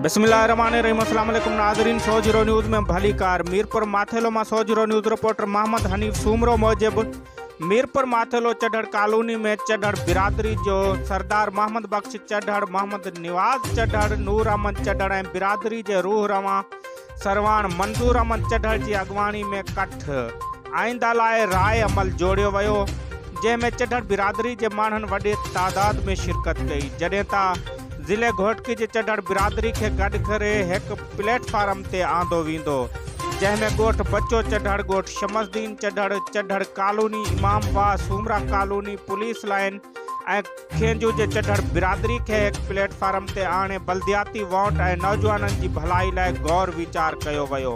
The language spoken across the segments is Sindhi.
بسم الله الرحمن الرحيم السلام عليڪم ناظرين سو زيرو نيوز ۾ ڀليڪار ميرپور ماٿيلو مان سو zero news reporter Muhammad Hanif Soomro موجب ميرپور ماٿيلو چڍڙ ڪالوني ۾ چڍڙ برادري جو سردار محمد بخش چڍڙ محمد نواز چڍڙ نور احمد چڍڙ ۽ برادري جي روح روان سرواڻ منظور احمد چڍڙ جي اڳواڻي ۾ ڪٺ آئينده لاء راء عمل جوڙيو ويو جنهن ۾ چڍڙ برادري جي ماڻهن وڏي تعداد ۾ شرڪت ڪئي جڏهن ته ضلعي گهوٽڪي جي چڍڙ برادري کي گڏ ڪري هڪ پليٽ فارم تي آندو ويندو جنهن ۾ ڳوٺ بچو چڍڙ ڳوٺ Shams Din Chhadhar Chhadhar colony Imam Bagh Soomra colony police line ۽ کين جو جي چڍڙ برادري کي هڪ پليٽ فارم تي آڻي بلدياتي وانٽ ۽ نوجوانن جي ڀلائي لاء غور ويچار ڪيو ويو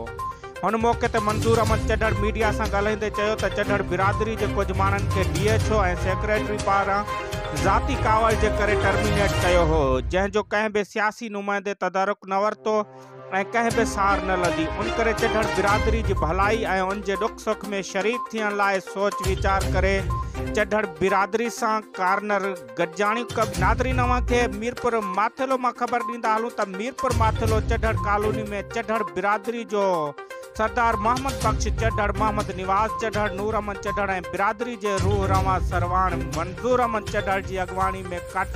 هن موقعي تي منظور احمد چڍڙ ميڊيا سان ڳالهائيندي چيو ته چڍڙ برادري جي ڪجهه ماڻهن کي ڊي ايڇ او ۽ سيڪريٽري پاران ذاتي ڪاوڙ جي ڪري ٽرمينيٽ ڪيو هو جنهن جو ڪنهن به سياسي نمائندي تدارڪ نه ورتو ۽ ڪنهن به سار نه لڌي، ان ڪري چڍڻ برادري جي ڀلائي ۽ ان جي ڏک سک ۾ شريڪ ٿيڻ لاء سوچ ويچار ڪري چڍڻ برادري سان ڪارنر گڏجاڻيون ڪن. ناظرين اوهان کي ميرپور ماٿيلو مان خبر ڏيندا هلون ته ميرپور ماٿيلو چڍڻ ڪالوني ۾ چڍڻ برادري جو سردار محمد بخش چڍڙ، محمد نواز چڍڙ، نور احمد چڍڙ ۽ برادري جي روح روان سرواڻ منظور احمد چڍڙ جي اڳواڻي ۾ ڪٺ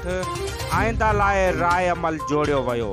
آئنده لاء راء عمل جوڙيو ويو.